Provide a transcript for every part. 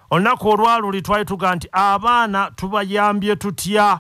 olunaku olwaluli twali tuga nti abaana tubayambye tutya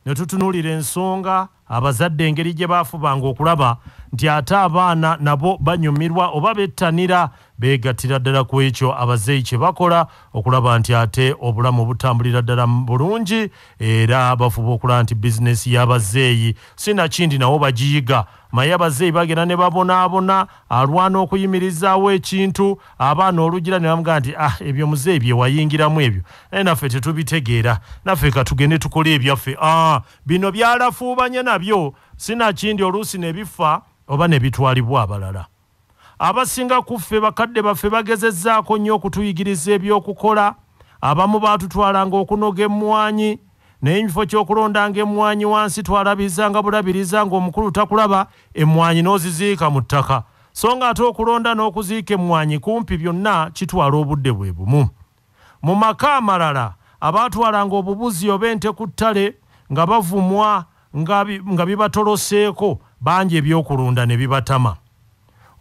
ne tutunuulira ensonga abazadde engeri gye baafubanga okulaba nti ate abaana nabo banyumirwa oba bettanira beegattira ddala ku ekyo abazeeyi kye bakola okulaba nti ate obulamu butambulira ddala bulungi era bafuba okulaba nti bizinesi y'abazeeyi sinakindi nawo bagiyiga Maye abazeeyi bagenda ne babonaabona, alwana okuyimirizaawo ekintu, abaana olugira ne bamugamba nti ah ebyo muzeeyi bye wayingiramu ebyo naye naffe tetubitegeera, naffe ka tugende tukole ebyaffe ah bino byalafuubanye nabyo sinakindi oluusi ne bifa oba ne bitwalibwa abalala. Abasinga ku ffe bakadde baffe bagezezzaako nnyo okutuyigiriza eby'okukola. Abamu baatutwalanga okunoga emmwanyi, naye emifo ky'okulondanga emmwanyi wansi twalabirizanga bulabiriza ng'omukulu takulaba, emmwanyi n'oziziika mu ttaka. So ng'ate okulonda n'okuziika emmwanyi kumpi byonna kitwala obudde bwe bumu. Mu maka amalala, abaatwalanga obubuzi oba ente ku ttale nga bavumwa nga nga bibatoloseeko bangi eby'okulunda ne bibatama.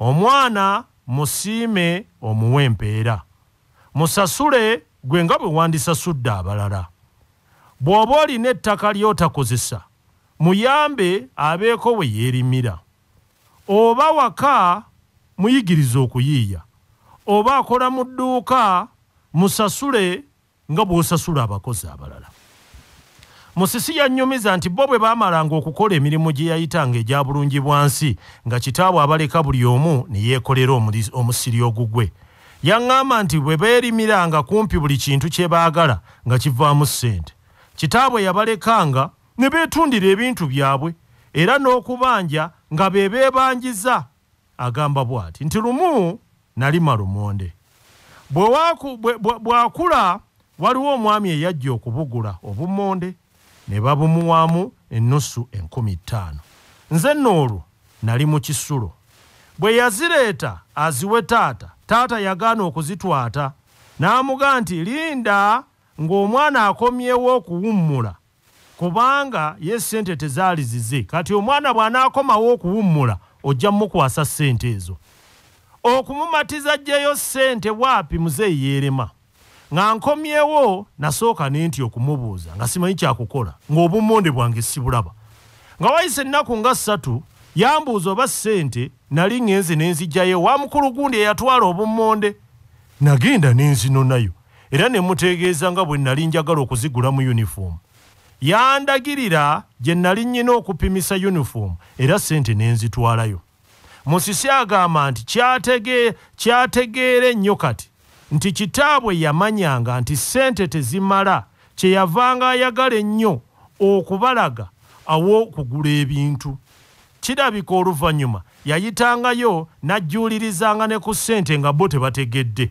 Omwana musiime omuwe empeera. Musasule gwe nga bwe wandisasudde abalala. Bw'oba olina ettaka ly'otakozesa, muyambe abeeko we yeerimira. oba waka muyigirize okuyiiya oba akola mu dduuka musasule nga bw'osasula abakozi abalala. Musisi yannyumiza nti bo bwe baamalanga okukola emirimu gye yayitanga egya Bulungibwansi nga kitaabwe abaleka buli omu ne yeekolera omusiri ogugwe. Yang'amba nti bwe beerimiranga kumpi buli kintu kye baagala nga kivaamu ssente. Kitaabwe yabalekanga. ne beetundira ebintu byabwe era n'okubanja nga be beebanjiza agamba bw'ati nti lumu nalima lumonde bw'akula waliwo omwami eyajja okubugula obumonde ne babumuwaamu ennusu enkumi ttaano nze nno olwo nali mu kisulo bwe yazireeta aziwe taata taata yagaana okuzitwata n'amuga nti linda ng'omwana akomyewo okuwummula kubanga ye ssente tezaali zize kati omwana bw'anaakomawo okuwummula ojja mumukwasa ssente ezo okumumatiza ajjeyo ssente waapi muzeeyi yeerema nga nkomyewo nasooka ne nti okumubuuza nga simanyi kyakukola ng'obummonde bwange sibulaba nga wayise ennaku nga ssatu yambuuza oba ssente nali ŋŋenze ne nzijjayo wa mukulu gundi eyatwala obummonde nagenda ne nzinonayo era ne muteegeeza nga bwe nnali njagala okuzigulamu yunifoomu. Yandagirira gye nnali nnyina okupimisa yunifoomu era ssente ne nzitwalayo. Musisi agamba nti kyategeera ennyo kati nti kitaabwe yamanyanga nti ssente tezimala kye yavanga ayagala ennyo okubalaga aw'okugula ebintu. Kirabika oluvannyuma yayitangayo n'ajjuulirizanga ne ku ssente nga bo tebategedde.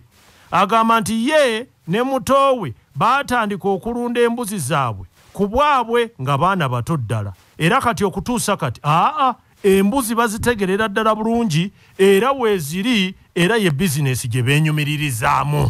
agamba nti ye ne muto we baatandika okulunda embuzi zaabwe ku bwabwe nga baana bato ddala era kati okutuusa kati aa embuzi bazitegerera ddala bulungi era weeziri era ye bizinesi gye beenyumiririzaamu